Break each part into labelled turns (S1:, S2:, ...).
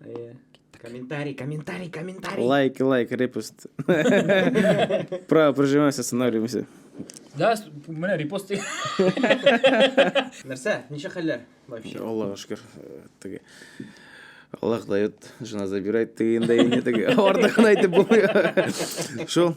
S1: Э, комментарий,
S2: комментарий, комментарий. Лайк, лайк,
S3: репост. Право прожимаемся, останавливаемся. Да,
S1: менә репост.
S2: Нәрсә? Ничә хәлләр вообще? Аллага шөкер.
S3: Э, теге Аллах дает, жена забирает, ты инде инде теге. Артыгын әйтеп булмый. Шул.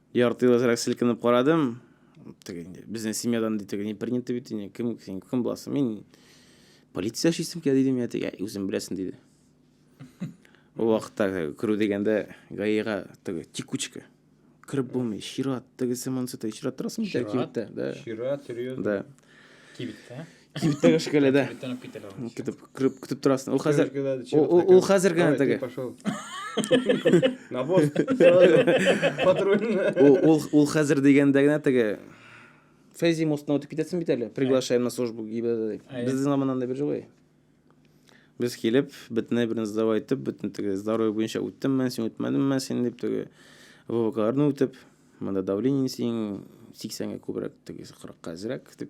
S3: Ярты ел әзрәк селкенеп карадым. Теге инде безнең семьядан ди теге не принято бит инде. Кем син кем буласың? Мин полиция эшлисем килә дидем я теге үзем беләсең диде. Ул вакытта керү дигәндә гаига теге текучка. Кереп булмый, чират, тегесе монысы тегесе чират торасың бит кибеттә. Да. Чират, серьезно.
S2: Да.
S3: Кибеттә?
S1: Кибеттә кеше
S3: көлә дә. Бөтен үк китәләр. аны. Көтеп, күреп- көтеп торасың. Ул хәзер ул- ул- ул хәзер генә Давай, теге. ты пошел.
S2: На бос. Патрульный. ул, ул, ул
S3: хәзер дигәндә генә теге Фәйзи мостына үтеп китәсең бит әле. Приглашаем на службу ГИБДД дип. Әйе. Безнең заманнан да бер җылы. Без килеп, бөтенләй берне сдавай итеп, бөтен теге здоровье буенча үттем мен, син үтмәдең мен, син дип теге ВВКларны үтеп, монда давление синең 80-гә күбрәк, теге 40-ка әзрәк дип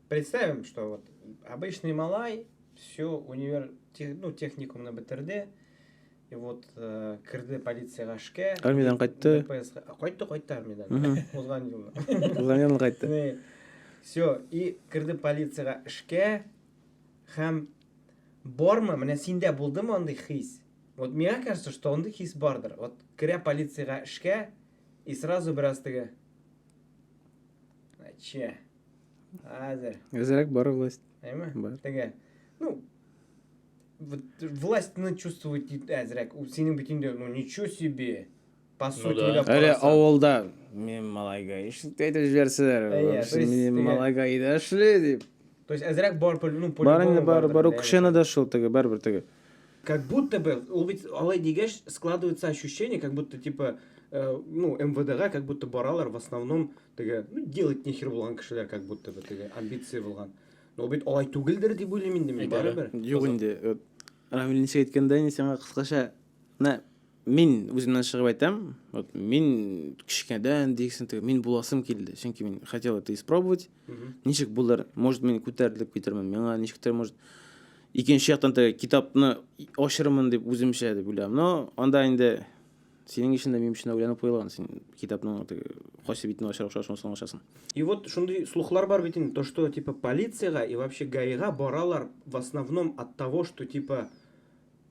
S2: Представим,
S3: что вот
S2: обычный малай, все, универ, тех, ну, техникумны бетерде, и вот э, керде полицияга эшкә. Армиядән кайтты.
S3: ДПСка. А, Кайтты, кайтты
S2: армиядән. Мгм. Узган елны. Узган елны кайтты. Э,
S3: Все,
S2: и керде полицияга эшкә һәм бармы, менә синдә булдымы андый хис? Вот мне кажется, что андый хис бардыр. Вот керә полицияга эшкә и сразу бераз теге. Че? Әзер.
S3: Әзерәк бар власть. Әйме? Бар. Теге, ну,
S2: вот властьны чувствовать дип әзерәк. Ул синең бөтендә, ну, ничего себе. По ну сути, да. Әле авылда
S3: мен малайга ишетеп әйтеп җибәрсәләр, мин малайга өйдә эшли дип. То есть әзерәк бар,
S2: ну, полигон. Бар инде бар, бар,
S3: укшена да шул теге, бәрбер теге. Как будто
S2: бы, ул бит алай дигәч, складывается ощущение, как будто, типа, э, ну, МВДга как будто баралар в основном Теге, ну, делать нехер булган кешеләр как будто бы теге амбиция булган. Но бит алай түгелдер дип уйлыйм инде мин барыбер. Юк инде. Э,
S3: Рамил ничек әйткәндә инде сиңа кыскача, менә мин үземнән чыгып әйтәм, вот мин кечкенәдән дигән теге мин буласым килде, чөнки мин хотел это испробовать. Ничек булыр? Может, мин күтәрелеп китермен. Миңа ничектер может икенче яктан теге китапны ачырмын дип үземчә дип уйлам. Но анда инде Синең өчен дә минем өчен дә уйланып куелган, син китапның теге кайсы битен ачар охшаш шунысын ачасың. И вот шундый
S2: слухлар бар бит инде, то что типа полициягә и вообще гаига баралар в основном от того что типа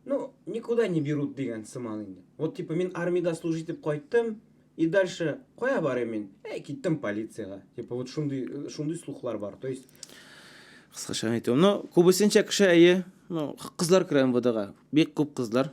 S2: ну никуда не берут дигән сыман инде. Вот типа мин армида служить итеп кайттым и дальше кая барыйм мин? Әй киттем полициягә. Типа вот шундый шундый слухлар бар. То есть Кыскача
S3: әйтүем, ну күбесенчә кеше әйе, ну кызлар керә МВДга. Бик күп кызлар.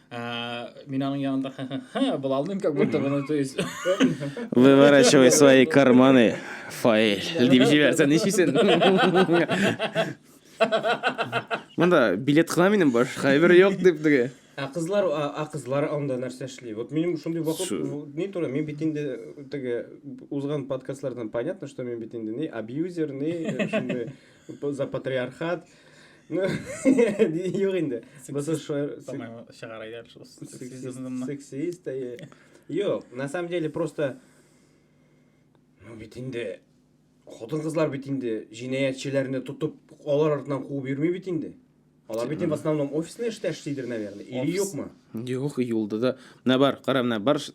S1: А, мин аның янында ха-ха-ха булалмыйм, как будто бы, ну, то есть... Выворачивай
S3: свои карманы, файл, дип җибәрсәң, ничисен? Монда билет кына минем баш, хәбер юк дип диге. Ә кызлар, а, а кызлар
S2: анда нәрсә эшли? Вот минем шундый вакыт, Су- в- ни туры, мин бит инде теге узган подкастлардан понятно, что мин бит инде ни абьюзер, ни э, шундый За патриархат. Ну, юк инде. Басы шуер... Чыгар әйдәр шул сексизмны. Сексист, әйе. Юк, на самом деле просто... Ну, бит инде... Хотын кызлар бит инде җинаятчыларны тотып, алар артынан куып йөрми бит инде. Алар бит в основном офисный эштә эшлидер, наверное. Или юкмы? Юк, юлда да.
S3: Менә бар, кара, менә бар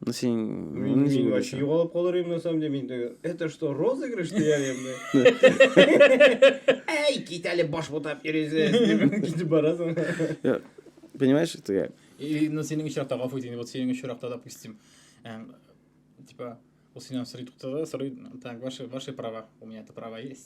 S3: Ну, син...
S2: Мин, мин вообще югалып калыр идем, на самом деле. Мин, это что, розыгрыш дияр идем? Әй, кит әле баш бутап йөресең. Китеп барасың.
S3: Понимаешь, это как? И,
S1: ну, синең очракта, гафу итегез, вот синең очракта, допустим, эм, типа, вот синең сорый туктады, сорый, так, ваши, ваши права, у меня это права есть.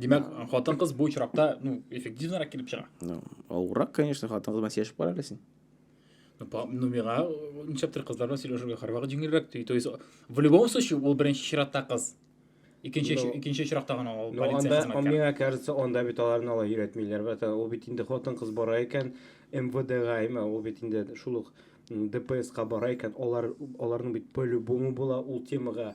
S1: Димәк, хатын-кыз бу очракта, ну, эффективнарак килеп чыга. Ну, авыррак, конечно,
S3: хатын-кыз белән сөйләшеп кара әле син. Ну, по- ну,
S1: миңа э, ничәптер кызлар белән сөйләшергә һәрвакыт җиңелрәк ди. То есть, в любом случае, ул беренче чиратта кыз. Икенче, Ну, икенче очракта гына ул Ну, полиция анда, а хезмәткәре. миңа кажется, анда
S2: бит аларны алай өйрәтмиләр. Бәтә, ул бит инде хатын-кыз бара икән, МВДга, имә, ул бит инде шул ук м, ДПСка бара икән, алар, аларның бит по-любому була ул темага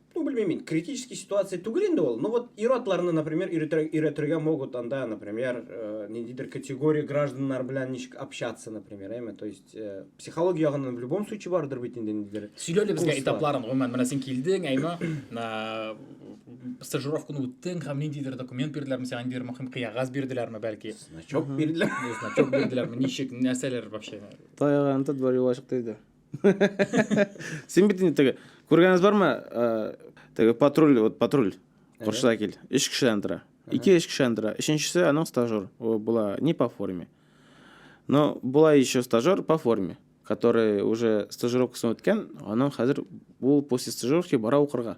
S2: ну, белмим мин, критический ситуация түгел инде ул, ну вот ир-атларны, например, өйрәтергә могут анда, например, э, ниндидер категория гражданнар белән ничек общаться, например, әйме, то есть э, психология ягыннан в любом случае бардыр бит инде ниндидер. Сөйлә әле безгә этапларын,
S1: гомумән, менә син килдең, әйме, стажировканы үттең һәм ниндидер документ бирделәрме сиңа, ниндидер мөһим кыягаз бирделәрме бәлки? Значок бирделәр.
S2: Значок бирделәрме,
S1: ничек, нәрсәләр вообще? Таяган тот бар
S3: юлашык диде. сен бит инде теге көргәнез бар ма теге патруль вот патруль курста кил өч кешедән тора ике өч кешедән тора өченчесе аның стажер ол була не по форме но була еще стажер по форме который уже стажировкасын үткән аның хәзер ул после стажировки бара укырга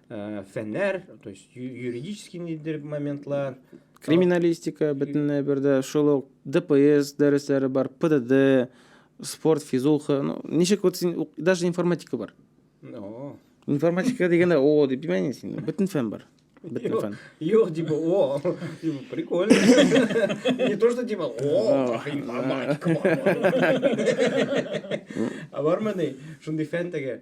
S2: Э, фәннәр, то есть юридический нидер моментлар. Криминалистика
S3: бөтенләй бердә, шул ук ДПС дәресләре бар, ПДД, спорт, физуха, ну, ничек вот син, даже информатика бар. О. Информатика дигәндә о дип димәйме син? Бөтен фән бар. Бөтен фән. Юк, типа, о,
S2: прикольно. Не то, что типа, о, информатика бар. А бармы ни? Шундый фән теге.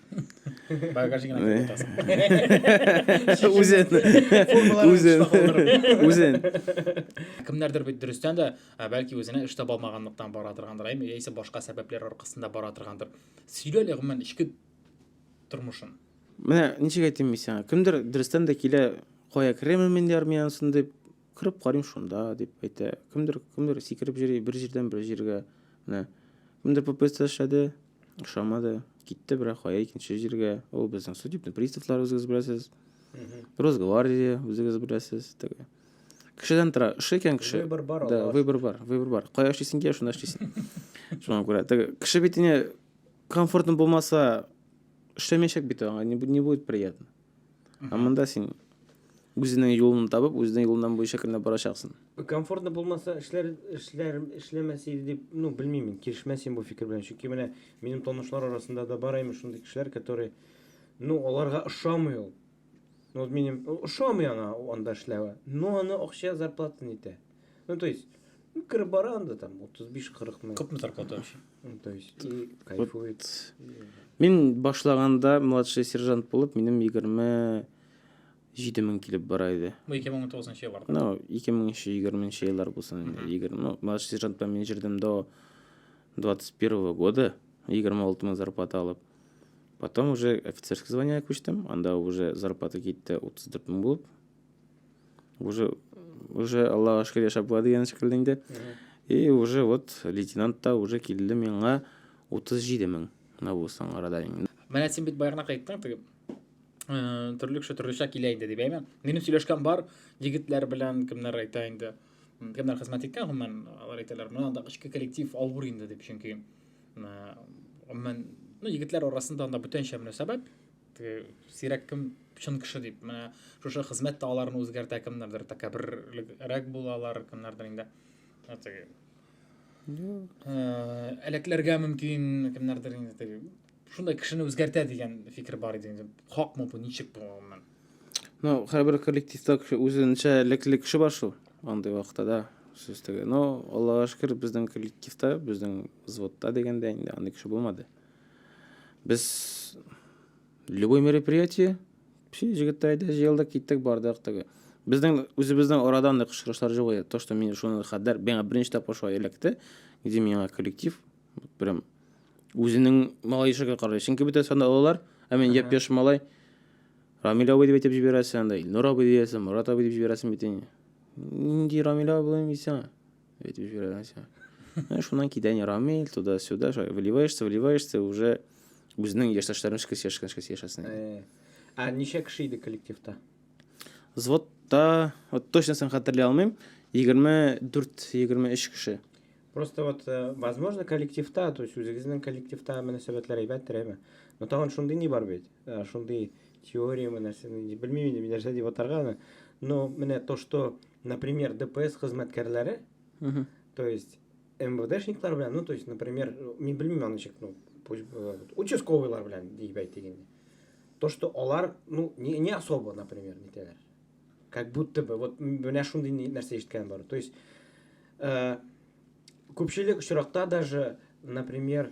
S3: Бага кашыгына
S1: кире тасың. Үзен.
S3: Үзен. Үзен. Кемнәрдер
S1: бит дөрестән дә, бәлки үзенә эш таба алмаганлыктан бара торгандыр, әйме, яисә башка сәбәпләр аркасында бара торгандыр. Сөйлә әле гомумән ичке тормышын. Менә
S3: ничек әйтим мин сиңа? Кемдер дөрестән дә килә, кая керәме мин армиясын дип, кереп карыйм шунда дип әйтә. Кемдер, кемдер сикереп йөри бер җирдән бер җиргә. Менә. Кемдер ППС эшләде, Ошамады. Китте бирә кая икенче җиргә. Ул безнең судебный приставлар үзегез беләсез. Росгвардия үзегез беләсез. Теге. Кешедән тора. Эше икән кеше. Выбор бар, Да, Аллаһ выбор
S2: бар, выбор
S3: бар. Кая эшлисең дия, шунда эшлисең. Шуңа күрә. Теге кеше бит инде комфортно булмаса эшләмәячәк бит аңа, не бу- не будет приятно. Ә монда син үзенең юлын табып, үзенең юлыннан буенча кенә барачаксың. Комфортно булмаса,
S2: эшләр эшләр эшләмәс иде дип, ну, белмим мин, килешмәс идем бу фикер белән. Чөнки менә минем танышлар арасында да бар имеш шундый кешеләр, которые, ну, аларга ошамый ул. Ну, вот минем ошамый аңа анда эшләве, но аны акча зарплата нитә. Ну, то есть, ну, корпоранда там 35-40 мең. Күпме зарплата
S1: вообще?
S2: Ну, то есть, и кайфует. Мин
S3: башлаганда младший сержант булып, минем 27 мең килеп бара иде.
S1: Бу 2019 нчы елларда. Ну, 2020
S3: нчы еллар булсын инде. 20, ну, младший сержант белән мин җирдем до 21 года, 26 мең зарплата алып. Потом уже офицерский звание күчтем, анда уже зарплата китте 34 мең булып. уже уже аллаға шүкір яшәп була дигән шикелле инде и уже вот лейтенант та уже килде миңа утыз җиде мең мына булсаң арада менә син бит баягына
S1: кайттың теге э, төрле кеше төрлечә килә инде дип әйме минем сөйләшкән бар егетләр белән кемнәр әйтә инде кемнәр хезмәт иткән гомумән алар әйтәләр менә анда эчке коллектив авыр инде дип чөнки э, гомумән ну егетләр арасында анда бүтәнчә мөнәсәбәт сирәк кем чын кеше дип менә шушы хезмәт тә аларны үзгәртә кемнәрдер тәкәбберлерәк булалар кемнәрдер инде теге әләкләргә мөмкин кемнәрдер инде теге шундай кешене үзгәртә дигән фикер бар иде инде хакмы бу ничек бу гомумән ну һәрбер
S3: коллективта үзенчә элекле кеше бар шул андый вакытта да сүз теге но аллага шөкер безнең коллективта безнең взводта дигәндә инде андый кеше булмады Без любой мероприятие, все җегетләр әйдә җыелдык, киттек, бардык теге. Безнең үзебезнең арадан да очрашлар җыгылды. То, что мин шуны хәдәр, миңа беренче тапкыр шулай эләкте, где миңа коллектив прям үзенең малай ишеге карый. Чөнки бөтәсе анда олылар, ә мин япь-яшь малай. Рамил абый дип әйтеп җибәрәсең анда, Илнур абый диясең, Мурат абый дип җибәрәсең бит инде. Нинди Рамил абый булыйм дисең? Ведь җибәрәсең. Менә шуннан китә не рамиль, туда-сюда, вливаешься, вливаешься, уже үзенең яшьтәшләрен эшкә яшәшкән эшкә яшәсен. Э, а ничә
S2: кеше иде коллективта? Звотта,
S3: вот точно сын хәтерли алмыйм, 24-23 кеше. Просто вот, э,
S2: возможно, коллективта, то есть үзегезнең коллективта мөнәсәбәтләр әйбәттер, әйме? Но тагын шундый не бар бит. Э, шундый теория мөнәсәбәт, белмим инде, нәрсә дип атарга аны. Но менә то, что например, ДПС хезмәткәрләре, угу. то есть МВДшниклар белән, ну, то есть, например, мин белмим аны ничек, ну, э, участковыйлар белән дип әйтик инде. То, что алар, ну, не, не особо, например, нитәләр. Как будто бы, вот менә шундый нәрсә ишеткән бар. То есть, э, күпчелек очракта даже, например,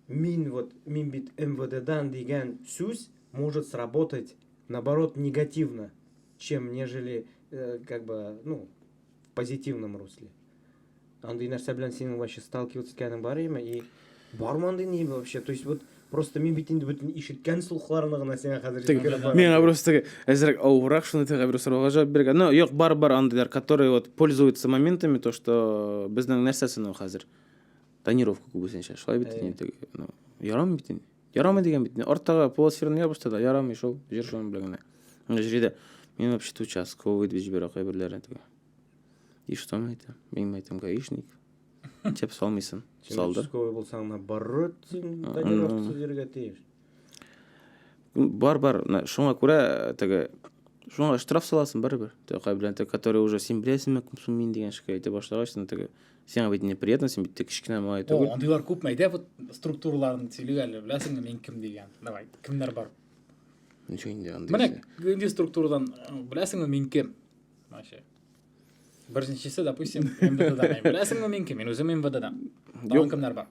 S2: мин вот, мин бит МВДдан дигән сүз может сработать, наоборот, негативно. чем нежели э, как бы ну в позитивном русле андый нәрсә белән синең вообще сталкиваться иткәнең бар име и бармы андый ни вообще то есть вот Просто мин бит инде бөтен ишеткән слухларны гына сиңа хәзер җиткереп барам. Миңа просто
S3: әзрәк авырак шуны тәгә бер сорауга җавап биргән. Но юк, бар бар андыйлар, которые вот пользуются моментами, то что безнең нәрсәсен ул хәзер. Тонировка күбесенчә. Шулай бит инде. Ну, ярам бит инде. Ярамый дигән бит. Арттагы полосферны ябышты да, ярамый шул. Җыр шуның белән генә. Менә җиредә. Мин вообще участковый дип җибәрә кайберләре теге. И что мне это? Мин әйтәм, гаишник. Теп салмыйсын. Салды. Участковый булсаң, ана
S2: баррот син тагиров җиргә
S3: тиеш. Бар, бар. Шуңа күрә теге шуңа штраф саласың барыбер. Теге кайберләре, которые уже син беләсеңме, кем сум мин дигән шикәй әйтә башлагач, теге. Тә, сиңа бит неприятно син бит тек кечкенә малай түгел андыйлар күпме әйдә вот
S1: структураларын сөйлик әле беләсеңме мин кем дигән давай кемнәр бар ничего
S3: инде андый менә нинди
S1: структурадан беләсеңме мин кем вообще беренчесе допустим мвддан беләсеңме мин кем мин үзем мвддан тагын кемнәр бар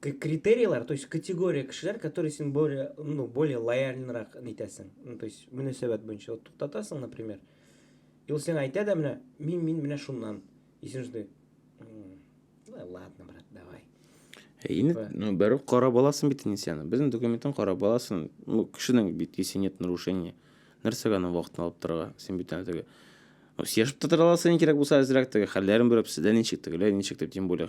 S2: критерийлар, то есть категория кешеләр, которые син более, ну, более лояльнырак нитәсең. Ну, то есть мөнәсәбәт буенча вот туктатасың, например. И ул сиңа әйтә дә менә, мин мин менә шуннан. И син шундый, ладно, брат, давай. Инде
S3: типа. ну бәрү кара баласын бит инде сине. Безнең документын кара баласын. Ну кешенең бит если нет нарушения. Нәрсәгә аны вакытын алып торырга? Син бит әле теге. Ну сешеп тә тора аласың кирәк булса әзрәк теге хәлләрен белеп, сездә ничек тегеләр, ничек дип, тем более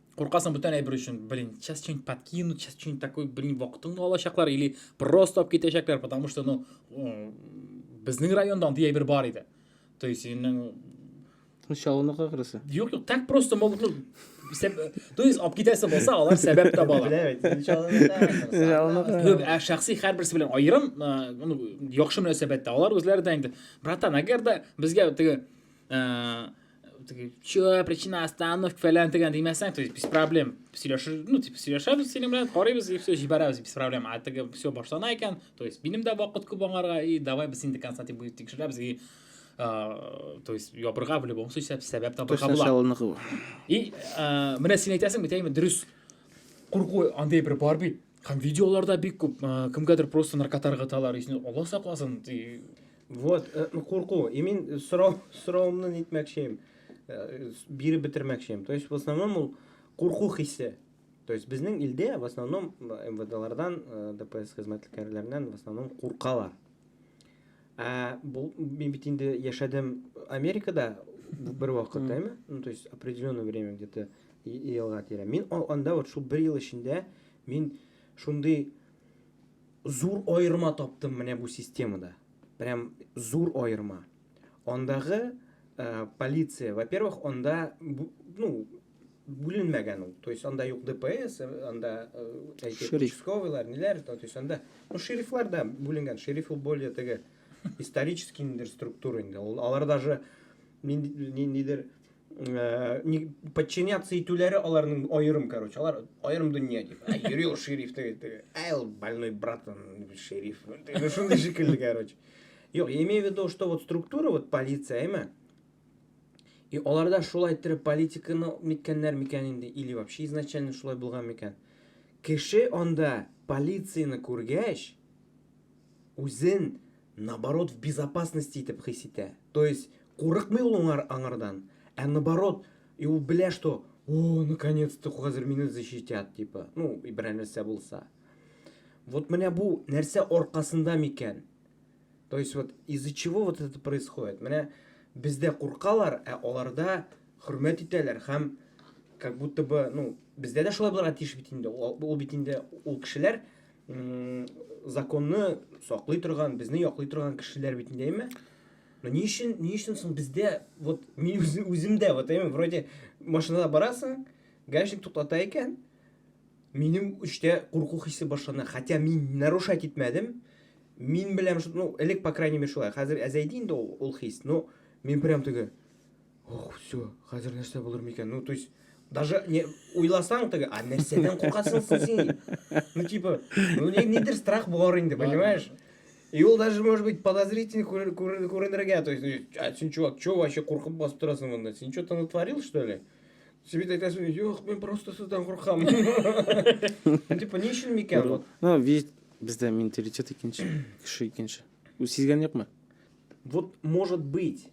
S1: Куркасың бүтән әйбер өчен, блин, сейчас что-нибудь подкинут, сейчас что-нибудь такой, блин, вакытыңны алачаклар или просто алып китәчәкләр, потому что, ну, безнең районда андый әйбер бар иде. То есть, инең...
S3: Шалыны кагырысы. Юк, юк, так просто
S1: могут, ну, то есть алып китәсе булса, алар сәбәп табалар. Беләм, ә шәхси һәрберсе белән аерым, ну, яхшы мөнәсәбәттә. Алар үзләре дә инде, братан, әгәр дә безгә теге Че, причина остановки falan degan demasdan, то есть без проблем сөйләшер, ну, типа, сөйләшәбез синең белән, карыйбыз и все, җибәрәбез без проблем. А теге все башлана икән, то есть минем дә вакыт күп аңарга и давай без инде конца дип тикшерәбез и то есть ябырга в любом случае сәбәп табырга була. И менә син әйтәсең бит, әйме, дөрес. Курку андый бер бар бит. Һәм видеоларда бик күп кемгәдер просто наркотар гыталар, исне Алла сакласын.
S2: Вот, э, курку. И мин э,
S1: сорау
S2: сорауымны нитмәкчем. Э, биреп бетермәкчем. То есть в основном ул курку хисе. То есть безнең илдә в основном МВДлардан, ДПС хезмәткәрләреннән в основном куркалар. Ә, бу, мин бит инде яшәдем Америкада бер вакыт, әйме? Ну, то есть, определенное время где-то елга тирә. Мин анда вот шул бер ел эчендә мин шундый зур аерма таптым менә бу системада. Прям зур аерма. Андагы э, полиция, во-первых, анда, ну, бүленмәгән ул. То есть анда юк ДПС, анда әйтик участковыйлар, ниләр, то есть анда ну шерифлар да бүленгән. Шериф ул более теге исторический ниндер структура инде. Ул алар даже ниндидер не подчиняться итүләре аларның аерым, короче, алар аерым дөнья дип. Ай, йөри ул шериф теге теге. Ай, ул больной братан шериф. Шундый шикелле, короче. Юк, я имею в виду, что вот структура, вот полиция, әйме? И алар да шулай иттереп политиканы ниткәннәр микән инде, или вообще изначально шулай булган микән? Кеше анда полицияне күргәч, үзен наоборот в безопасности итеп хис итә. То есть курыкмый ул аңар, аңардан, ә наоборот, и ул белә, что о, наконец-то хәзер мине защитят, типа, ну, и берәр нәрсә булса. Вот менә бу нәрсә аркасында микән? То есть вот из-за чего вот это происходит? Менә бездә куркалар, ә аларда хөрмәт итәләр һәм как будто бы, ну, бездә дә шулай булырга тиеш бит инде. Ул бит инде ул кешеләр законны саклый торган, безне яклый торган кешеләр бит инде, әйме? Но ни өчен, ни өчен соң бездә вот мин үзем дә вот әйме, вроде машинада барасың, гаишник туктата икән, Минем үчтә курку хисе башлана, хотя мин нарушать итмәдем. Мин беләм, что, ну, элек, по крайней мере, шулай. Хәзер әзәйде инде ул, ул хис, но мин прям теге, ох, все, хәзер нәрсә булыр микән? Ну, то есть, даже не уйласаң теге, а нәрсәдән куркасың син? Ну, типа, ну, не, нидер страх бар инде, понимаешь? И ул даже, может быть, подозрительный күренергә, то есть, а син, чувак, чего вообще куркып басып торасың монда? Син что-то натворил, что ли? Сөйт әйтәсең, юк, мин просто сездән куркам. Типа, ни өчен микән ул? Ну, вид бездә
S3: менталитет икенче, кеше икенче. Үз сизгән юкмы? Вот,
S2: может быть,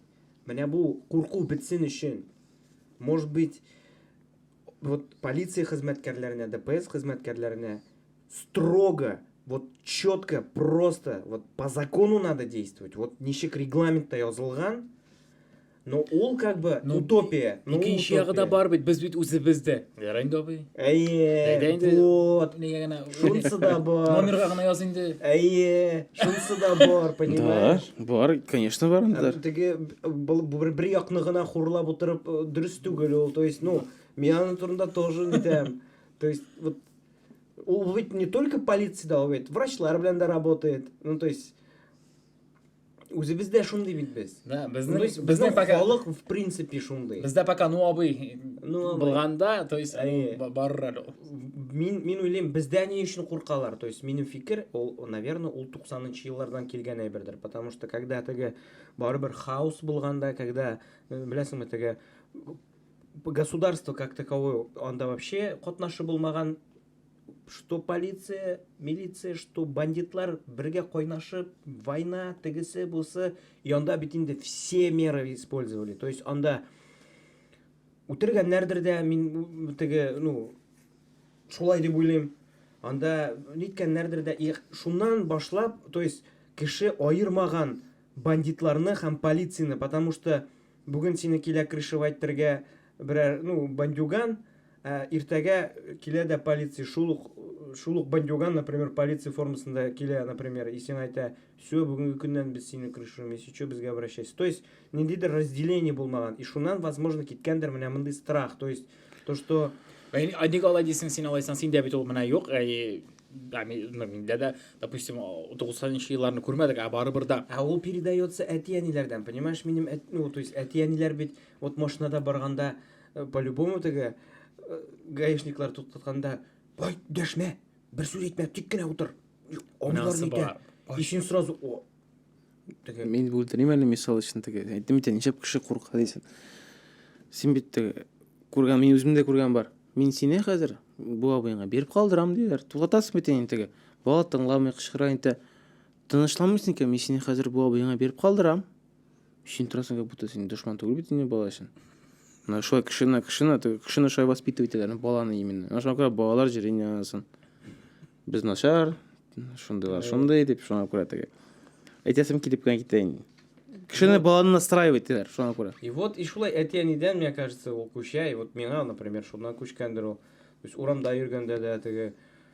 S2: менә бу курку бетсен өчен, может быть, вот полиция хезмәткәрләренә, ДПС хезмәткәрләренә строго, вот четко, просто, вот по закону надо действовать. Вот ничек регламентта язылган, Ну, ул как бы ну, утопия. Ну, икенче ягы да
S1: бар бит, без бит үзебез дә. Ярый инде абый. Әйе. инде.
S2: Вот. Нигә генә шунысы да бар. Номерга гына яз инде.
S1: Әйе. Шунысы
S2: да бар, понимаешь? Да, бар, конечно,
S3: бар инде. Теге
S2: бер бер якны гына хурлап утырып э, дөрес түгел ул. То есть, ну, мин аның турында тоже нитәм. То есть, вот ул бит не только полиция да, ул бит врачлар белән дә работает. Ну, то есть, Үзебез дә шундый бит без. Да, безнең безнең
S1: пока
S2: халык в принципе шундый. Бездә пока ну абый
S1: ну булганда, то есть барыр әле. Мин
S2: мин уйлыйм, бездә ни өчен куркалар? То есть минем фикер, ул, наверное, ул 90нчы еллардан килгән әйбердер, потому что когда теге барыбер хаос булганда, когда э, беләсеңме теге государство как таковое анда вообще катнашы булмаган что полиция, милиция, что бандитлар бергә кайнашып, война, тегесе, бусы, и анда бит инде все меры использовали. То есть анда үтергәннәрдер дә, мин теге, ну, шулай дип уйлыйм. Анда ниткәннәрдер дә, и шуннан башлап, то есть кеше аермаган бандитларны һәм полицияне, потому что бүген сине килә крышевать итәргә, Берәр, ну, бандюган, ә, иртәгә килә дә полиция, шул ук, шул ук бандюган, например, полиция формасында килә, например, и сиңа әйтә, все, бүгенге көннән без сине крышуем, если что, безгә обращайся. То есть, ниндидер разделение булмаган. И шуннан, возможно, киткәндер менә мондый страх. То есть, то, что... Ә ник алай
S1: дисең, син алайсаң, синдә бит ул менә юк, әй, да, миндә дә, допустим, 90-нчы елларны күрмәдек, ә барыбер да. Ә ул передается
S2: әти-әниләрдән, понимаешь, минем, ну, то есть, әти-әниләр бит Вот машинада барганда э, по любому теге э, гаишниклар туктатканда ай дәшмә бер сүз әйтмә тик кенә утыр абыйлар әйтә и син сразу о теге мин бүлдерим әле
S3: мисал өчен теге әйттем бит ничәп кеше курка дисең син бит теге күргән мин үзем дә күргән бар мин сине хәзер бу абыеңа биреп калдырам диләр туктатасың бит инде теге бала тыңламый кычкыра инде тынычланмыйсың икән мин сине хәзер бу абыеңа биреп калдырам Очень интересно, как будто син дошман түгел бит инде бала өчен. Менә шулай кешене, кешене, кешене шулай воспитывать итәләр, баланы именно. Менә шуңа күрә балалар җирен янасын. Без начар, шундыйлар, шундый дип, шуңа күрә теге. Әйтәсем килеп кенә китә инде. Кешене баланы настраивать итәләр, шуңа күрә. И вот, и шулай
S2: әти-әнидән, мне кажется, ул күчә, и вот миңа, например, шуннан күчкәндер ул. То есть урамда йөргәндә дә теге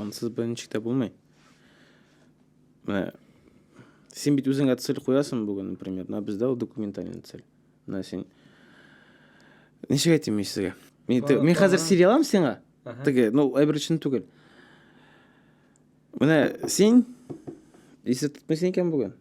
S3: Ансыз берничек тә булмый. Менә син бит үзеңә цель куясың бүген, например, на бездә ул документальный цель. Менә син ничек әйтим мин сезгә? Мин, тө- мин хәзер сөйли алам сиңа. Теге, ну, әйбер өчен түгел. Менә син исе тотмыйсың икән бүген.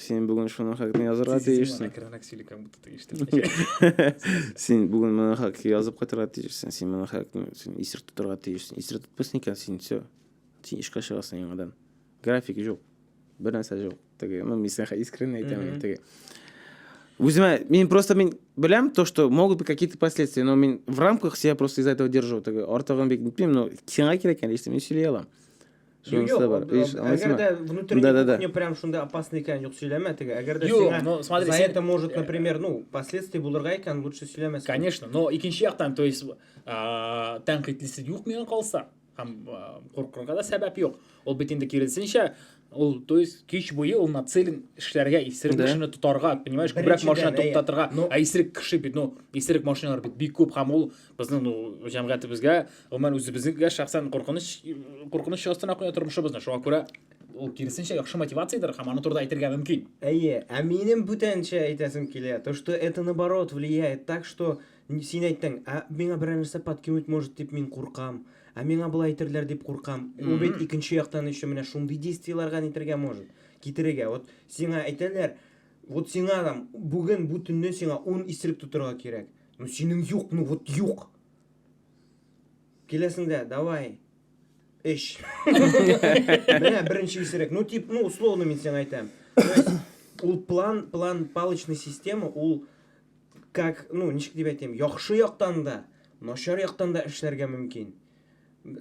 S3: Син бүген шуның хакында язырга тиешсең. Син бүген моның хакында язып кайтырга тиешсең. Син моның хакында син исерт тотарга тиешсең. Исерт тотмыйсың икән, син все. Син эшкә чыгасың яңадан. График жоқ. Бер нәрсә жоқ. Теге, ну, мин сәхә искренне әйтәмен. Теге. Үземә, мин просто мин беләм то, что могут быть какие-то последствия, но мин в рамках себя просто из-за этого держу. Теге, артыгын бик нитмим, но сиңа кирәк икән, лично мин сөйли алам. Шуның Юк, бар. Иш, әгәр дә
S2: внутренний да, да, да. кухня прям шунда опасный икән, юк сөйләмә теге. Әгәр дә сиңа ну, смотри, за это может, э, например, ну, последствия булырга икән, лучше сөйләмәсен. Конечно, но икенче
S1: яктан, то есть, а, тәнкыйтьлесе юк миңа калса, һәм а, куркырга да сәбәп юк. Ул бит инде киресенчә, ул то есть кич буе ул нацелен эшләргә исерек да. кешене тотарга понимаешь күбрәк машина туктатырга ә исерек кеше бит ну исерек машиналар бит бик күп һәм ул Безнең ну җәмгыятебезгә, гомумән үзебезгә шәхсән куркыныч куркыныч астына куя тормышыбызны. Шуңа күрә ул киресенчә яхшы мотивациядер һәм аны турыда әйтергә мөмкин. Әйе, ә минем
S2: бүтәнчә әйтәсем килә, то что это наоборот влияет так, что син әйттең, ә миңа берәр нәрсә подкинуть может дип мин куркам, ә миңа болай әйтерләр дип куркам. Ул бит икенче яктан еще менә шундый действиеләргә нитергә может, китерергә. Вот сиңа әйтәләр, вот сиңа там бүген бу төнне сиңа 10 исерек тотырга кирәк. Ну синең юк, ну вот юк. Киләсендә, давай. Эш. Менә беренче исерек. Ну тип, ну условно мин сиңа әйтәм. Ул план, план палочный система, ул как, ну ничек дип әйтәм, яхшы яктан да, начар яктан да эшләргә мөмкин.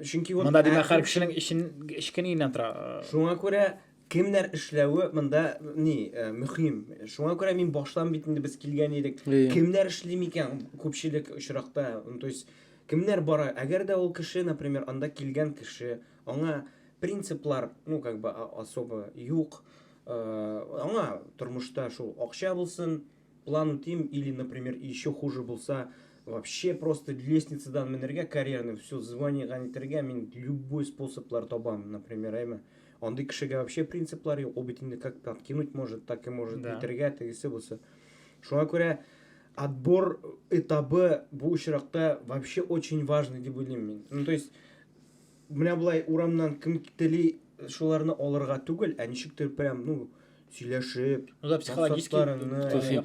S2: Чөнки вот Монда димәк һәр кешенең эшен
S1: эшкененнән тора. Шуңа күрә
S2: Кемнәр эшләве монда ни мөһим. Шуңа күрә мин баштан бит инде без килгән идек. Кемнәр эшли микән күпчелек очракта? То есть кемнәр бара? Әгәр дә ул кеше, например, анда килгән кеше, аңа принциплар, ну как бы особо юк. Аңа тормышта шул акча булсын, План үтим или например еще хуже булса вообще просто лестницадан менергә карьерный все звание ганитергә мин любой способлар табам например әйме андый кешегә вообще принциплар юк ул бит инде как подкинуть может так и может да. итергә тегесе булса шуңа күрә отбор этабы бу очракта вообще очень важный дип уйлыйм мин ну то есть Менә болай урамнан кем тели шуларны алырга түгел, ә ничектер прям, ну, сөйләшеп, Ну да психологически.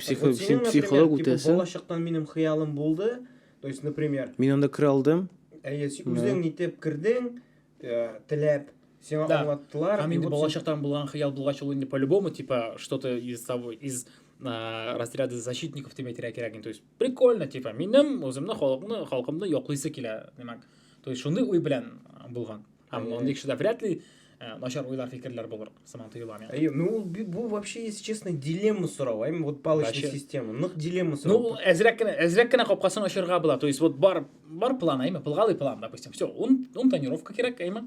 S3: Психолог үтәсе. Бала чактан минем хыялым
S2: булды. То есть, например. Мин анда керә алдым.
S3: Әйе, үзең
S2: нитеп кердең, э, теләп, сиңа аңлаттылар. Һәм инде бала чактан
S1: булган хыял булгач ул инде по-любому, типа, что-то из того, из э, разряда защитников дип әйтергә кирәк. То есть, прикольно, типа, минем үземне халыкны, халкымны яклыйсы килә, димәк. То есть шундый уй белән булган. Һәм мондый кешедә вряд ли э, начар уйлар, фикерләр булыр, сыман тоела миңа. Әйе, ну бу вообще, если
S2: честно, дилемма сорау, әйме вот палочная система. Нык дилемма сорау. Ну, әзрәк кенә, әзрәк кенә
S1: капкасын ачарга була. То есть вот бар бар план, әйме, плгалый план, допустим. Все, он он тренировка кирәк, әйме.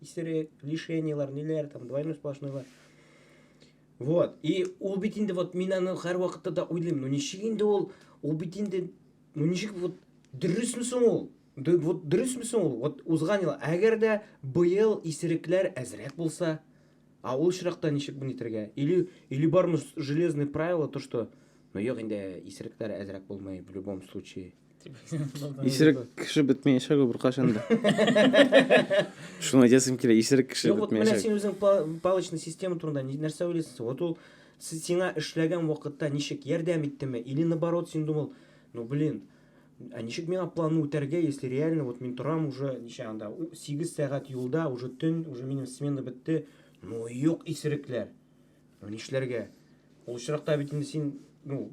S2: исерек, лишениялар, ниләр там, двойной сплошнойлар. Вот. И ул бит инде вот мин аны һәр вакытта да уйлыйм. Ну ничек инде ул, ул бит инде ну ничек вот дөресме соң ул? Вот дөресме соң ул? Вот узган ел, әгәр дә быел исерекләр әзрәк булса, а ул очракта ничек буны итергә? Или или бармы железный правило то, что ну юк инде исерекләр әзрәк булмый в любом случае. Исерек
S3: кеше бетмәячәк ул беркайчан да. Шуны әйтәсем килә, исерек кеше Юк, вот менә син үзең
S2: палочный система турында нәрсә уйлыйсың? Вот ул сиңа эшләгән вакытта ничек ярдәм иттеме? Или наоборот, син думал, ну блин, а ничек миңа планны үтәргә, если реально вот мин торам уже ничә анда 8 сәгать юлда, уже төн, уже минем смена бетте. Ну юк, исерекләр. Ну нишләргә? Ул очракта бит инде син, ну,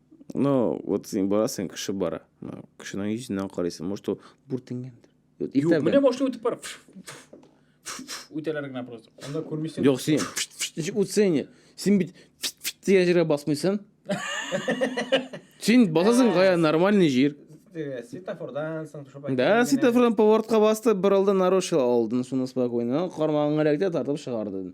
S1: Ну, вот
S3: сен барасың, кеше бара. Ну, кешенең йөзеннән карыйсың, может, ул бүртенгәндер. Вот Юк, итәгән. менә башлый үтеп бар.
S1: Үтәләр генә
S2: просто.
S3: Анда күрмисең. Юк, син үтсәң, не. син бит дигән җиргә басмыйсың. Син басасың кая нормальный җир. Э, Светофордан
S2: соң төшеп Да, әйткән генә. светофордан
S3: поворотка басты, бер алды нарушил алдын, шуны спокойно. Кармагыңа эләкте, тартып чыгарды.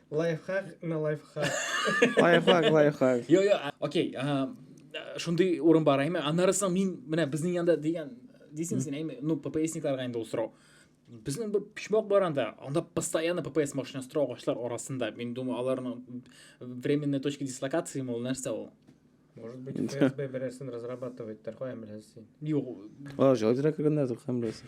S2: Лайфхак на лайфхак. Лайфхак,
S3: лайфхак. Йо, йо, окей.
S1: Шундый урын бар, әйме. Аннары соң мин менә безнең янда дигән дисең син, әйме. Ну, ППСникларга инде ул сорау. Безнең бер почмак бар анда. Анда постоянно ППС машинасы тора агачлар арасында. Мин думаю, аларның временная точка дислокации мол нәрсә ул. Может быть,
S2: ФСБ берәрсен разрабатывать, тәрхәм беләсен. Юк. А,
S1: җайлырак кергәннәр,
S3: тәрхәм беләсен.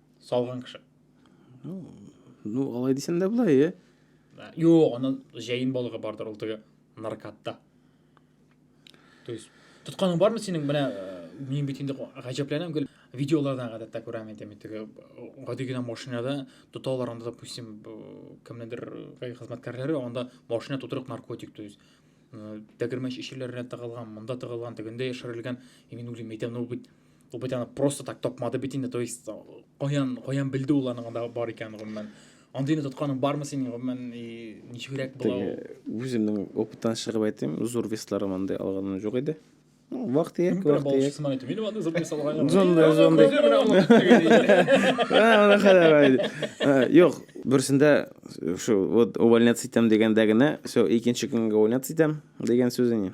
S1: Салган кеше. Ну,
S3: ну алай дисәң дә була, е. Юк, аның
S1: җәен балыгы бардыр ул теге наркатта. То есть, тотканың бармы синең менә э, мин бит инде гаҗәпләнәм гел видеолардан гадәттә күрәм инде мин теге гади генә машинада тоталар анда допустим кемнедер э, хезмәткәрләре анда машина тутырып наркотик то есть э, тәгәрмәч ишеләренә тыгылган монда тыгылган тегендә яшерелгән мин уйлыйм әйтәм ну бит Ул бит аны просто так тапмады бит инде, то есть каян каян белде ул аның анда бар икәнен гомумән. Андыйны тотканың бармы синең гомумән ничегрәк була ул? Үземнең
S3: опыттан чыгып әйтим, зур весларым андый алганым юк иде. Ну, вакыт ияк, вакыт ияк. Мин әйтә,
S1: мин андый зур вес алганым. Зонда, зонда. Ана
S3: хәләр иде. Юк, берсендә шу вот увольняться итәм дигәндә генә, все, икенче көнгә увольняться итәм дигән сүз инде.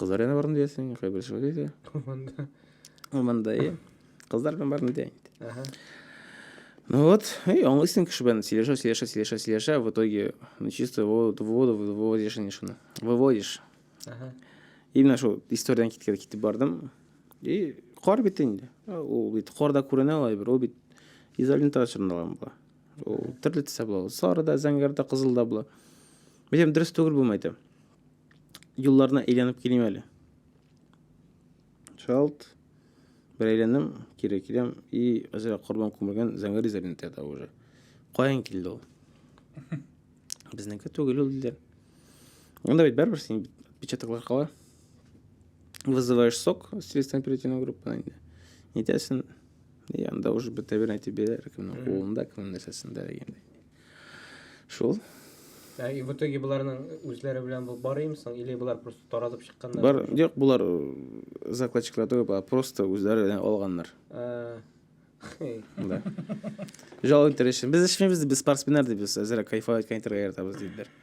S3: Кызлар янына бардым диясең, кая бер шулай диде. Урманда. Урманда, иә. Кызлар белән бардым дия инде. Ага. Ну вот, и аңлыйсың кеше белән сөйләшә, сөйләшә, сөйләшә, сөйләшә, в итоге, ну чисто воду, воду выводишь инде шуны. Выводишь. Ага. Именно шул историядән киткән китеп бардым. И кар бит инде. Ул бит карда күренә алай бер, ул бит изолента чорналган була. ул төрле төстә була ул сары да зәңгәр дә кызыл да була беләм дөрес түгел булмый әйтәм юлларына әйләнеп килим әле шалт бер әйләндем кире киләм и әзрәк корбан күмелгән зәңгәр изолентада уже каян килде ул безнеке түгел ул диләр анда бит бәрібір син печатаклар кала вызываешь сок с телестанпирительного группа инде нетесен и анда уже бетә бер әйтеп бирәләр кемнең кулында кемнең нәрсәсендә дигәндәй шул Ә
S2: и в итоге боларның үзләре белән бу бар имени соң, или болар просто таратып чыкканнар? Бар, юк, болар
S3: э, закладчиклар түгел, болар просто үзләре белән алганнар. Ә, хей. Да. Жал интерешен. Без эшмибез, без спортсменнар, ди, без әзрәк кайфовать кайтырга яратабыз, диделәр.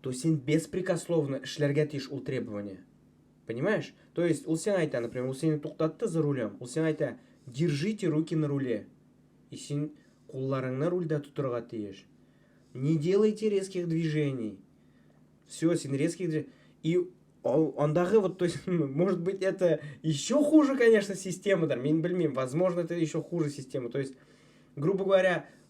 S2: То есть син беспрекословно эшләргә тиеш ул требование. Понимаешь? То есть ул сиңа әйтә, например, ул сине туктатты за рулем, ул сиңа әйтә, держите руки на руле. И син кулларыңны рульдә тотырга тиеш. Не делайте резких движений. Все, син резких движений. И андагы вот, то есть, может быть, это еще хуже, конечно, система, да, мин бельмим, возможно, это еще хуже система. То есть, грубо говоря,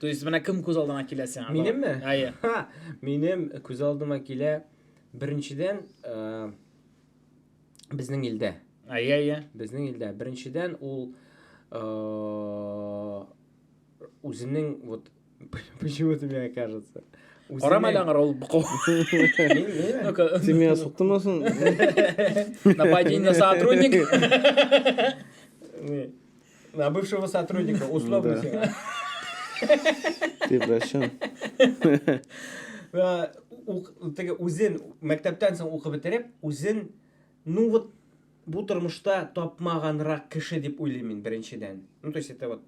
S1: То есть менә кем күз алдына килә сиңа? Минемме? Әйе. Минем
S2: күз алдыма килә беренчедән э, безнең илдә. Әйе, әйе. Безнең
S1: илдә
S2: беренчедән ул э, үзенең вот почему-то мне кажется Карама әле аңар
S1: ул букау.
S3: Ты меня суктымасын?
S1: Нападение на сотрудник.
S2: На бывшего сотрудника, условно.
S3: Превращен.
S2: Теге үзен мәктәптән соң укып бетереп, үзен ну вот бу тормышта тапмаганрак кеше дип уйлыйм мин беренчедән. Ну то есть это вот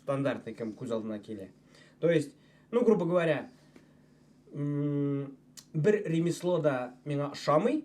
S2: стандартный кем күз алдына килә. То есть, ну грубо говоря, бер ремесло да миңа ошамый,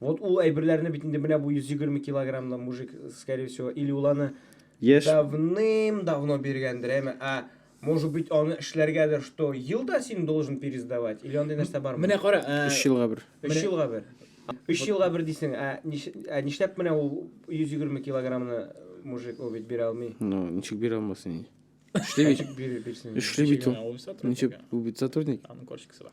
S2: Вот ул әйберләрне бит инде менә бу 120 килограммлы мужик, скорее всего, или ул аны Яшь. давным-давно биргәндер, әмма а может быть аны эшләргәдер, что ел да син должен пересдавать, или андый нәрсә бармы? Менә кара, э, Өч елга
S1: бер. Өч
S3: менә- елга бер.
S2: Өч елга бер дисең, ә ниш- ә нишләп менә ул 120 килограммны мужик ул бит бирә алмый? Ну, ничек бирә алмасын
S3: инде. Эшли бит. Ничек бир- бирсен? Эшли бит ул. Ничек ул бит сотрудник. Аның корчикасы бар.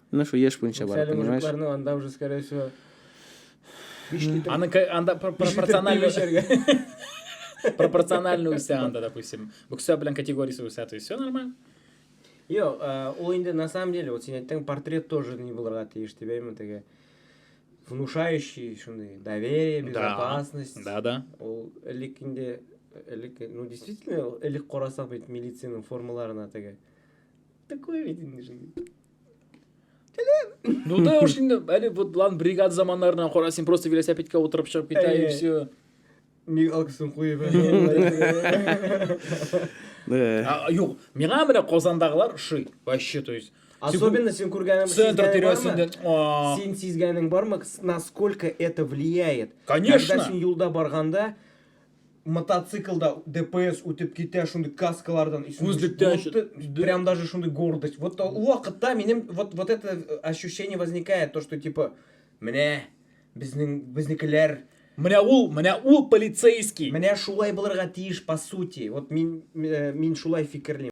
S3: Менә шул еш буенча бара, Әле понимаешь? мужикларның анда уже, скорее
S2: всего, биш литр Аны
S1: ка- анда пр- биш литр пиво пропорционально эчәргә. пропорционально үсә анда, допустим. Боксер белән категориясе үсә, то есть все нормально. Юк,
S2: э, ул инде на самом деле, вот син әйттең, портрет тоже не булырга тиеш дип әйме теге. Внушающий, шундый, доверие, Да. безопасность. Да, да. Ул
S1: элек
S2: инде, элек, ну, действительно, элек карасак бит милициянең формаларына теге. Такой ведь инде же.
S1: Ну да уж инде, әле вот лан бригада заманнарына кара, син просто велосипедка утырып чыгып китә и все. Миг алкысын
S2: куеп.
S1: Юк, миңа менә Казандагылар ши, вообще, то есть Особенно син күргәнең
S2: центр тирәсендә. Син сизгәнең бармы, насколько это влияет? Конечно. Когда син юлда
S1: барганда,
S2: мотоциклда ДПС үтеп китә, шундый каскалардан исенгеч прям даже шундый гордость. Вот ул вакытта минем вот вот это э, ощущение возникает, то что типа менә безнең безнекеләр Менә ул,
S1: менә ул полицейский. Менә шулай булырга
S2: тиеш по сути. Вот мин э, мин шулай фикерлим.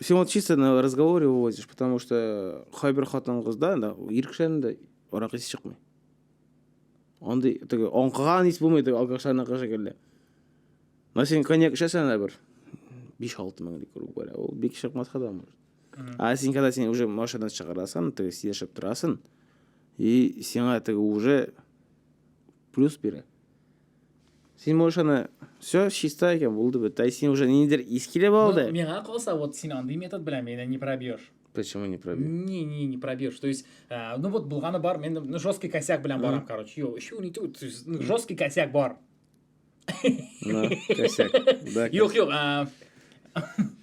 S3: сен вот чисто на разговоре вывозишь потому что кайбер хатын кызда да ир кешеләрдә дә арак исе чыкмый андый теге аңкыган ис булмый теге алкашларныкы шикелле но сен коньяк эчәсең дә бер биш алты мең литр грубо говоря ул бик чыкмаска да может а син когда син уже машинадан чыгарасың теге сөйләшеп торасың и сиңа теге уже плюс бирә син можешь аны все чиста икән булды бит ә син уже ниндидер ис килеп ну, алды миңа калса вот син
S1: андый метод белән мені не пробьешь Почему не пробьешь?
S3: Не, не, не пробьешь. То
S1: есть, э, ну вот булганы бар, мен ну, жесткий косяк белән барам, mm. короче. Йо, еще не тут, ну, жесткий косяк бар. Ну,
S3: косяк. Да, Юк, юк. А,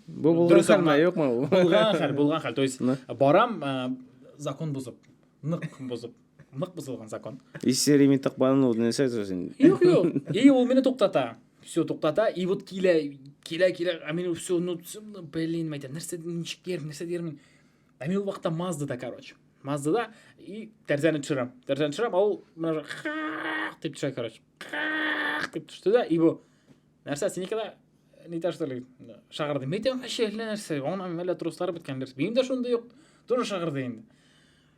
S1: Бу
S3: булган хәл ме, юкмы? Булган хәл, булган хәл. То
S1: есть, барам, э, закон бузып, нык бузып. Нык бозылган закон. Если ремень так
S3: бананул, не сойдет син. Юк, юк. И
S1: ул мине туктата. Все туктата. И вот килә, килә, килә. А мин все, ну, ну блин, мәйтәм, нәрсә ничек йөрим, нәрсә йөрим. А мин ул вакытта Маздада, короче. Маздада и тәрзәне төшерәм. Тәрзәне төшерәм, а ул менә дип төшә, короче. Дип төште дә, и бу. Нәрсә синеке дә не та что ли, шагырды. Мәйтәм, әшәле нәрсә. Аңа мәлә труслар беткән нәрсә. Минем дә шундый юк. Тоже шагырды инде.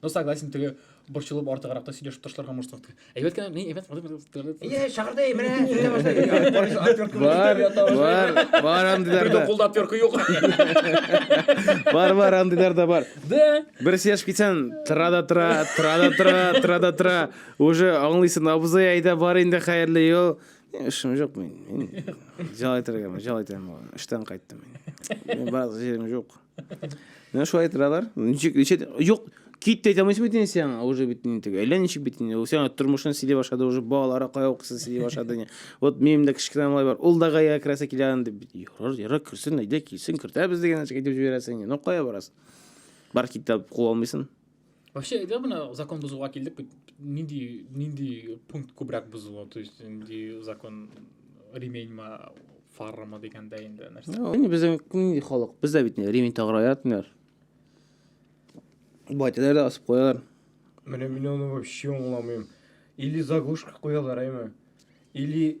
S3: Ну, согласен, теге
S1: борчылып артыграк та сөйләшеп ташларга может вакыт. Әйбәт кенә, мин әйбәт. Әйе, шагырда
S2: менә сөйлә башлады. Бар, бар, бар андыйлар да.
S3: Кулда отвертка юк.
S1: Бар,
S3: бар андыйлар да бар. Да. Бер сөйләшеп
S1: китсәң,
S3: тора да тора, тора да тора, тора да тора. Уже аңлыйсың, абзый әйдә бар инде хәерле ел. Эшем жоқ мен. Жал айтыргамын, жал айтамын. Эштән кайттым мен. Мен бар жерім жоқ. Менә шулай торалар. Ничек, ничек, юк, кит әйтә алмыйсың бит инде сиңа, уже бит инде әллә ничек бит инде. Ул сиңа тормышын сөйли башлады, уже балалары кая укысын сөйли башлады инде. Вот минем дә кечкенә малай бар, ул да гая керәсе килә инде. Ярар, ярар, керсен, әйдә, килсен, кертәбез дигән нәрсә әйтеп җибәрәсең инде. Ну, кая барасың? Бар кит дип куа алмыйсың. Вообще, әйдә бына
S1: закон бозуга килдек бит. Нинди нинди пункт күбрәк бозыла? То есть нинди закон ременьма фаррама дигәндә инде нәрсә? Әни безнең нинди
S3: халык? Бездә бит ремень тагыра ятмыйлар. Байтәләр дә асып куялар. Менә мин аны
S2: вообще аңламыйм. Или заглушка куялар, әйме? Или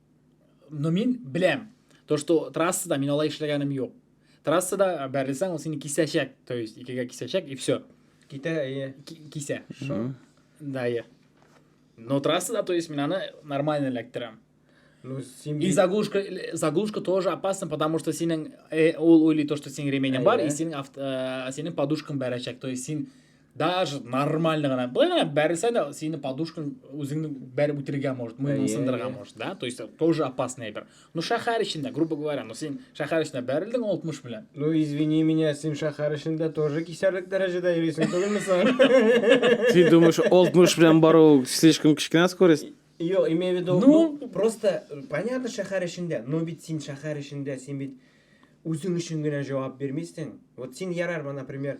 S1: но мин беләм то что трассада мин алай эшләгәнем юк трассада бәрелсәң ул сине кисәчәк то есть икегә кисәчәк и все китә әйе
S2: кисә
S1: да әйе но трассада то есть мин аны нормально эләктерәм Ну,
S2: и заглушка,
S1: э, заглушка тоже опасна, потому что синең э, ол уйлый то, что синең ременем бар, и синең, авто, э, синең подушкаң бәрәчәк. То есть син даже нормально гына былай бәрелсә дә сине подушкаң үзеңне бәреп үтерергә может мыйның сындырырга может да то есть тоже опасный әйбер ну шәһәр эчендә грубо говоря ну син шәһәр эчендә бәрелдең алтмыш белән ну извини меня
S2: син шәһәр эчендә тоже кисәрлек дәрәҗәдә йөрисең түгелме соң син думаешь
S3: алтмыш белән бару слишком кечкенә скорость Йо, имею в виду,
S2: ну, ну просто э, понятно шәһәр эчендә, но бит син шәһәр эчендә, син бит үзең өчен генә җавап бирмисең. Вот син ярар, например,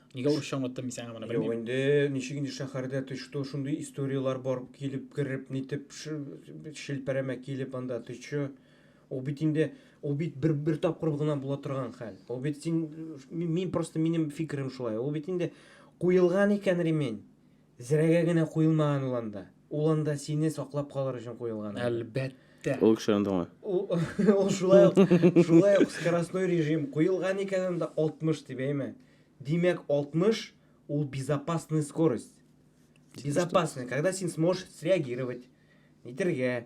S1: Нигә урысча аңлаттым мин сиңа моны белмим. Юк инде, ничек
S2: инде
S1: шәһәрдә
S2: ты что, шундый историяләр бар килеп кереп, нитеп шелпәрәмә килеп анда ты что? Ул бит инде, ул бит бер бер тапкыр гына була торган хәл. Ул бит син мин просто минем фикерем шулай. Ул бит инде куелган икән ремень. Зрәгә генә куелмаган ул анда. Ул анда сине саклап калыр өчен куелган. анда. Әлбәттә. Ул
S1: кеше андамы?
S3: Ул, ул шулай
S2: ук, шулай ук скоростной режим куелган икән анда 60 дип, әйме? Димәк, 60 ул безопасная скорость. Безопасная, когда син сможешь среагировать, нитәргә.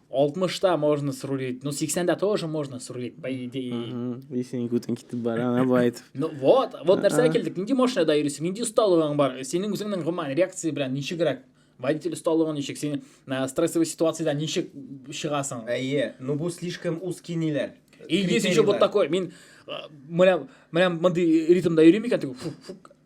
S1: 60-та можно срулить, ну 80-да тоже можно срулить, по идее. Если не күтен китеп
S3: бара, ана байт. Ну вот, вот
S1: нәрсә килдек, нинди машинада йөрисең, нинди осталыгың бар, синең үзеңнең гомумән реакция белән ничегрәк водитель осталыгы ничек син стрессовый ситуацияда ничек чыгасың әйе ну бу
S2: слишком узкий ниләр и есть еще вот
S1: такой мин менә менә мондый ритмда йөрим икән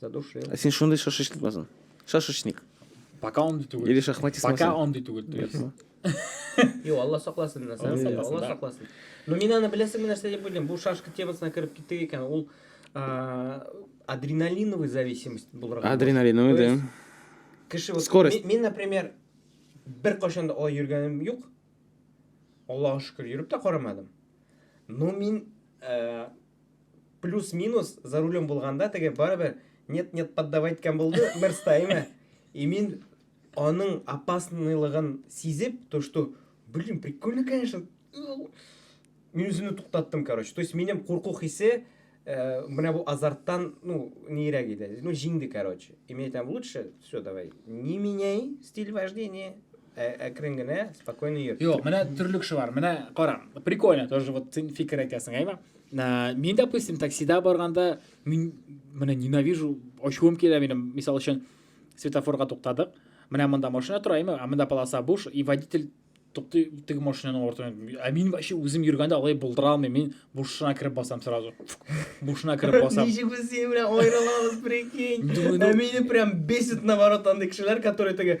S1: Задушил. Ә син
S2: шундый шашечник
S3: басын. Шашечник. Пока он
S1: түгел. Или шахматист. Пока он
S3: түгел, то
S1: есть.
S2: Йо, Алла сакласын, Алла сакласын. Но мин аны беләсеңме нәрсә дип уйлыйм? Бу шашка темасына кереп киттек икән, ул адреналиновый зависимость булырга. Адреналиновый, да.
S3: Кеше вот
S2: скорость. Мин,
S3: например,
S2: бер кашан да алай йөргәнем юк. Аллага шөкер, йөреп тә карамадым. Но мин э, плюс-минус за рулем булганда теге барыбер нет нет поддавать иткән булды мерстаймы и мин аның опасныйлыгын сизеп то что блин прикольно конечно мин үземне туктаттым короче то есть минем курку хисе э, менә бу азарттан ну нирәк иде ну җиңде короче и мин әйтәм лучше все давай не меняй стиль вождения Ә, әкрен генә, спокойно йөр. Юк, менә төрле кеше бар.
S1: Менә кара, прикольно тоже вот син фикер әйтәсең, әйме? Ә, мин, допустим, таксида барганда, мин менә ненавижу, ачуым килә минем. Мисал өчен, светофорга туктадык. Менә монда машина тора, әйме? Ә монда полоса буш, и водитель туктый теге машинаның артыннан. Ә мин вообще үзем йөргәндә алай булдыра алмыйм. Мин бушына кереп басам сразу. Бушына кереп басам. Ничек без синең белән
S2: аерылабыз, прикинь. Ә мине прям бесит наоборот андый кешеләр, которые теге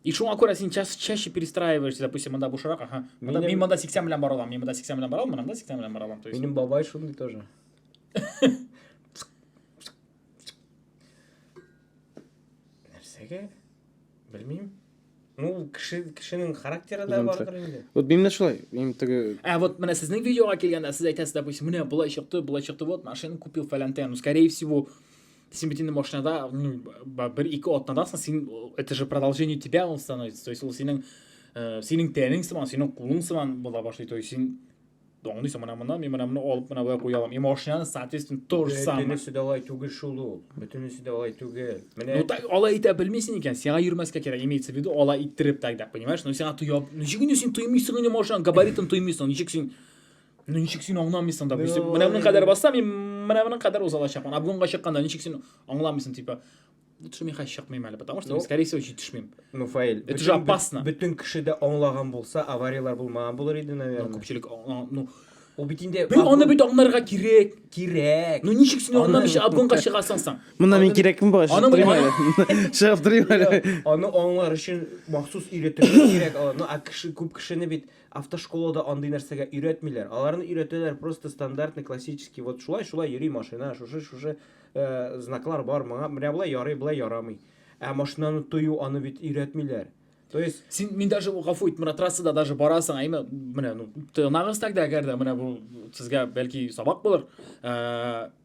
S1: И шуңа күрә син чаще, чаще перестраиваешься, допустим, монда бушырак, ага. Монда, мин монда 80 белән бара алам, мин монда 80 белән бара алам, монда 80 белән бара алам. Минем бабай шундый
S2: тоже. Нәрсәгә? Белмим. Ну, кеше, кешенең характеры да бардыр инде. Вот минем дә шулай. Минем
S3: теге... Ә, вот менә сезнең
S1: видеога килгәндә сез әйтәсез, допустим, менә болай чыкты, болай чыкты, вот машина купил фәләнтән. Ну, скорее всего, сен бит инде машинада ну бер ике атнадасың син это же продолжение тебя он становится то есть ул синең э, синең тәнең сыман синең кулың сыман була башлый то есть син аңлыйсың мына мына мен мына моны алып мына былай куя алам и машинаны соответственно то же самое бөтенесе дә алай түгел шул
S2: ул бөтенесе дә алай түгел менә ну так алай итә белмисең
S1: икән сиңа йөрмәскә кирәк имеется в виду алай иттереп тогда понимаешь ну сиңа тоя ничек инде син тоймыйсың инде машинаның габаритын тоймыйсың ничек син ничек син аңламыйсың да бүйтсек менә моның кадәр басса мин менә моның кадәр уза алачакмын а бүгенге чыкканда ничек син аңламыйсың типа лучше мин хәзер чыкмыйм әле потому что ну, скорее всего җитешмим ну фаил это же
S2: опасно бөтен
S1: кеше дә аңлаган
S2: булса авариялар булмаган булыр иде наверное ну күпчелек ну
S1: ул бит инде
S2: бер аны бит аңларга
S1: кирәк кирәк ну ничек
S2: син аңламыйча
S1: обгонга чыгасың соң аны мин кирәкме бала
S3: чыгып торыйм әле
S1: чыгып
S3: торыйм әле аны аңлар өчен
S2: махсус өйрәтергә кирәк ну а кеше күп кешене бит Автошколада андый нәрсәгә өйрәтмиләр. Аларны өйрәтәләр просто стандартный, классический, вот шулай, шулай йөри машина, шушы, шушы знаклар бар, моңа, менә болай ярый, болай ярамый. Ә машинаны тою, аны бит өйрәтмиләр. То есть син мин даже гафу
S1: ит, менә трассада даже барасың, әйме, менә ну тыгнагыз тогда, әгәр дә менә бу сезгә бәлки сабак булыр. Ә,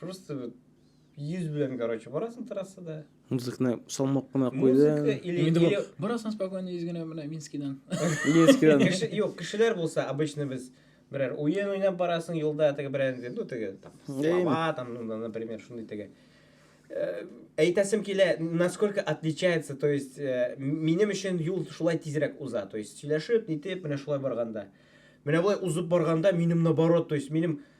S2: просто вот йөз белән короче барасың трассада музыканы салмак
S3: кына куйды инде бу барасың
S2: спокойно йөз
S1: генә менә минскидан минскидан
S2: юк кешеләр булса обычно без берәр уен уйнап барасың юлда теге берәр ну теге там слова там ну например шундый теге э, әйтәсем килә насколько отличается то есть э, минем өчен юл шулай тизрәк уза то есть сөйләшеп нитеп менә шулай барганда менә болай узып барганда минем наоборот то есть минем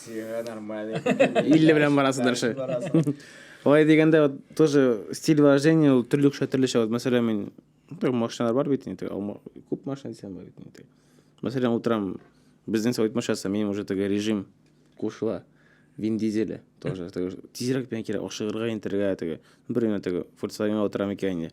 S2: Сиңа нормально. 50 белән
S3: барасыдыр ши. Алай дигәндә вот тоже стиль вождения ул төрлечә төрлечә. Вот мәсәлән мин ну, машиналар бар бит инде. Күп машина дисәм бар бит инде. Мәсәлән утрам безнең совет машинасы минем уже теге режим кушыла. Вин дизеле тоже. Тизрәк белән кирәк ашыгырга интергә теге. Бер генә теге Volkswagen-га утырам икән инде.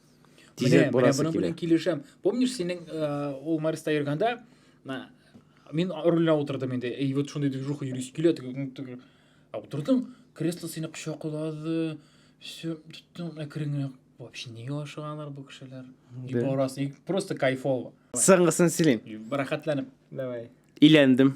S3: Тизрәк
S1: менә, менә буның белән килешәм. Помнишь, синең э, ул Марста йөргәндә, мин рульна утырдым инде. И вот шундый движуха йөри килә, а утырдың, кресло сине кочаклады, все, тоттың, әкрен вообще неге ашыганлар бу кешеләр? И барасы, просто кайфово. Соңгысын сөйлим.
S3: Рәхәтләнеп.
S1: Давай.
S2: Иләндем.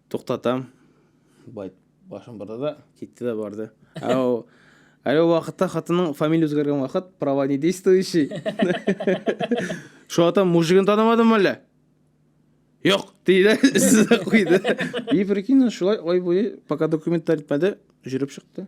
S3: Туктатам. Байт башын борды да китте дә барды. Ау. Әле вакытта хатының фамилия үзгәргән вакыт права не действующий. Шул атам мужигын танымадым әле. Юк, диде, сүзне куйды. И прикинь, шулай ай буе, пока документлар итмәде, жүреп чыкты.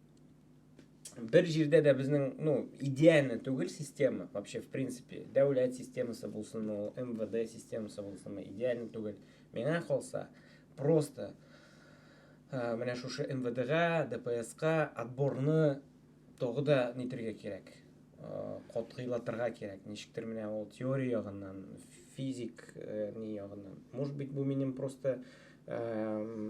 S2: бер җирдә дә безнең ну идеально түгел система вообще в принципе дәүләт системасы булсын ул мвд системасы булсынмы идеально түгел миңа калса просто ә, менә шушы мвдга дпска отборны тогы да нитергә кирәк ә, катгыйлатырга кирәк ничектер менә ул теория ягыннан физик ә, ни ягыннан может быть бу минем просто ә,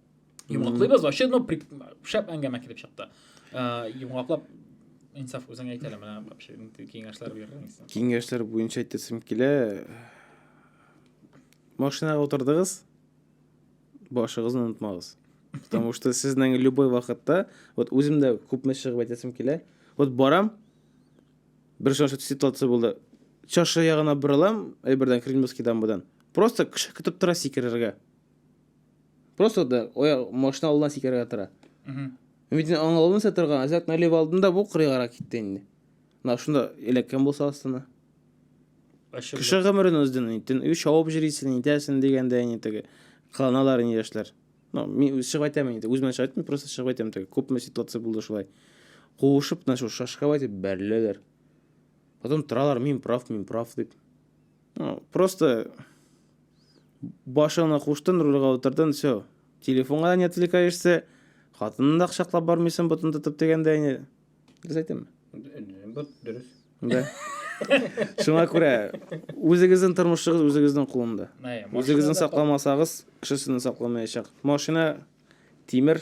S2: Йомгаклыйбыз,
S1: вообще, ну, шәп әңгәмә килеп чыкты. Э, Йомгаклап инсаф үзең әйтә әле менә вообще киңәшләр бирдең исән. Киңәшләр буенча
S3: әйтәсем килә. Машинага утырдыгыз, башыгызны онытмагыз. Потому что сезнең любой вакытта, вот үзем дә күпме чыгып әйтәсем килә. Вот барам, бер шушы ситуация булды. Чашы ягына борылам, әйбердән Кремлевский дамбадан. Просто кеше көтеп тора сикерергә. Просто да оя машина алдына сикерергә тора. Мин аң алдын сатырга, азак налив алдында бу кырыгара китте инде. На шунда эләккән булса астына. Кеше гомерен уздын, интен, үй шауып җирисен, интәсен дигәндә инде теге. Кыланалар инде яшьләр. Ну, мин үз чыгып әйтәм инде, үземә чыгып әйтмим, просто чыгып әйтәм теге. Күпме ситуация булды шулай. Куышып, на шул шашка әйтеп бәреләләр. Потом торалар, мин прав, мин прав дип. Ну, просто башыңны куштын, рульга утырдын, все. Телефонга не отвлекаешься, хатынны да кочаклап бармыйсың, ботын тотып дигәндә инде. Дөрес әйтәмме? Бу
S2: дөрес. Да.
S3: Шуңа күрә үзегезнең тормышыгыз үзегезнең кулында. Әйе, машина Үзегезне да сакламасагыз, кешесене сакламаячак. Машина тимер,